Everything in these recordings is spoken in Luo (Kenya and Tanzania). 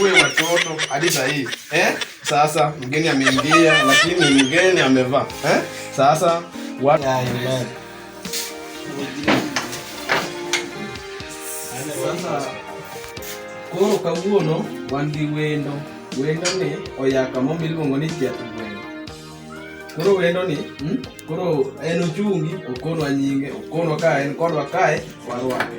uwe watoto hadi saa hii eh? Sasa mgeni ameingia, lakini mgeni amevaa eh? Sasa watu koro kawuono wan gi wendo wendo ni oyaka mo miluongo ni chiatu gweno koro wendo ni hmm? koro en ochungi okonwa nyinge okonwa ka en kodwa kae warwake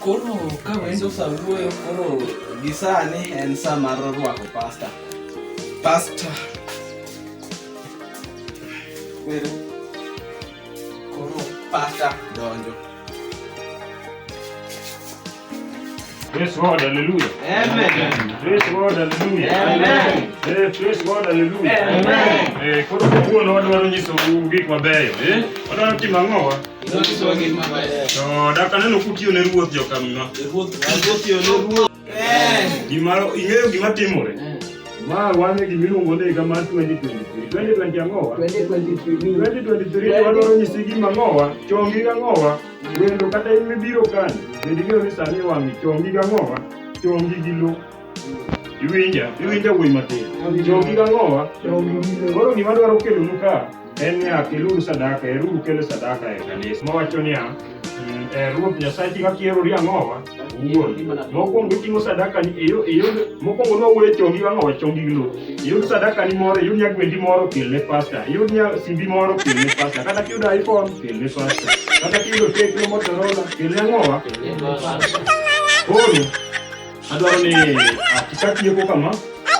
Koro ka wendo sa wuoyo koro gi sani en sa mar rwako pasta. Pasta. Wero. Koro pasta donjo. Praise God, hallelujah. Amen. Praise God, hallelujah. Amen. Eh, praise God, hallelujah. Amen. Eh, koro kawuono wadwaro nyisou gik mabeyo, eh? Wadwaro timo ang'owa? To dak aneno kutiyo ne ruoth jokamna. Gima ing'eyo gima timore. Ma wane gima iluongo ni higa mar 2023. 2020 ang'owa? 2023 wadwaro nyisi gima ang'owa, chongi gang'owa, wendo kata in mibiro kani, bende ing'eyo ni sani wang'i chongi gang'owa, chongi gi lo. Iwinja, iwinja wuoyi matin. Jogi gang'owa. Koro gima dwaro kelonu ka en niya, keluru sadaka, eruru kelo sadaka e kanisa. Mawacho niya, mm, e Ruoth Nyasachi kaka ierori ang'owa wuon. Mokwongo iting'o sadaka ni iyo iyo mokwongo nowuoyo chongi ang'owa chongi glo. Iyud sadaka ni moro, iyud nyagwendi moro kel ne pasta. Iyud nya simbi moro kel ne pasta. Kata kiyudo iPhone kel ne pasta. Kata kiyudo Tecno Motorola kel ne ang'owa. Koro Adwaro ni kaka tieko kama,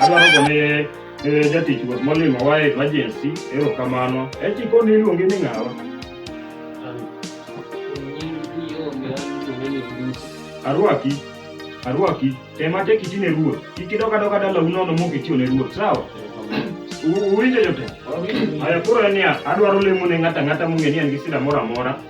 adwaro gone eh, jatich ruoth molimo wa e emergency, erokamano. Eti koni iluongi ni ng'awa? Arwaki, arwaki, tem atek iti ne ruoth. Kik idok adoka dalau nono mok itiyo ne ruoth, sawa? U- Uwinjo jotelo? Haya, koro en niya, adwaro lemo ne ng'ato ang'ata mong'e ni en gi sida moro amora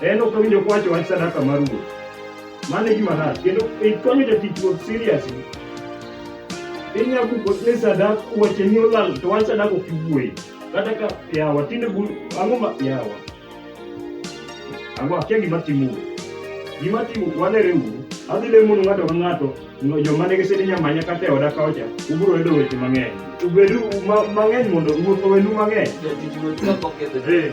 En ok owinjo kwacho wach sadaka mar ruoth. Mano e gima rach. Kendo ikonyo jatich ruoth seriously. Inyalo buko ni sadak weche ni olal to wach sadak ok iwuoye. Kata ka yawa tinde bu ang'o ma yawa. Ang'o akia gima timo. Gima timo walere uru. Adhi lemo ni ng'ato ka ng'ato no joma nigi sidi nyamanya kata e oda kaocha ubiro yudo weche mang'eny. Ubedu ma- mang'eny mondo ruoth owenu mang'eny. Jatich ruoth kapok ketho Eh.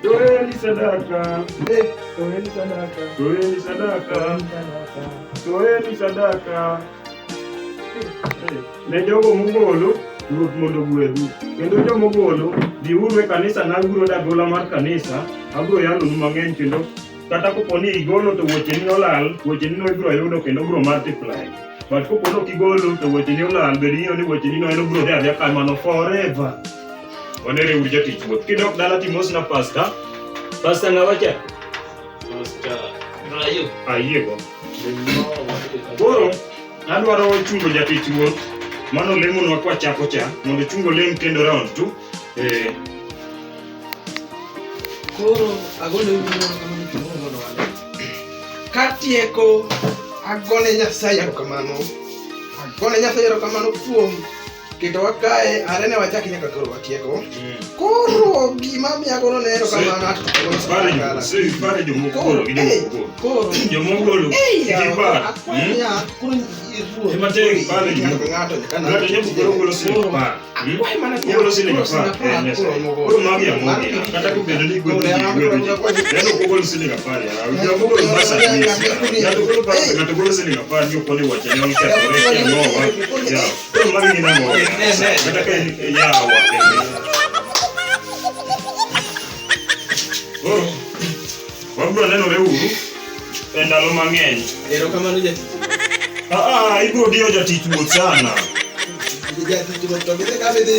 Toeni sadaka, toeni sadaka, toeni sadaka, toeni sadaka ne jogo mogolo Ruoth mondo ogwedhu. Kendo joma ogolo, biuru e kanisa na aguro dagola mar kanisa, abiro yalonu mang'eny kendo kata kopo ni igolo to wecheni olal, wecheni no ibiro yudo kendo obiro multiply. But kopo ni ok igolo to wecheni olal, bed ing'eyo ni wecheni no en obiro dhi adhiya kamano forever. Onere uru jatich wuoth. Kidok dala timosna pasta. Pasta ng'awa cha? Pasta. Rayo. Ayiego. Koro adwaro chungo jatich wuoth. Mano lemonwa kwa chako cha mondo chungo lem kendo round tu. Eh. Koro agone uru mondo kamano chungo mondo wale. Katieko agone Nyasaye erokamano. Agone Nyasaye erokamano kuom kendo wakaye are ne wachaki nyaka koro watieko mm. koro gima miyagono ne ero kamano ato Wabro nenore uru e ndalo mang'eny. Erokamano ja. Ah, ah, ibro diyo jatich wuoth sana. Jatich wuoth to gidhi ka bidhi.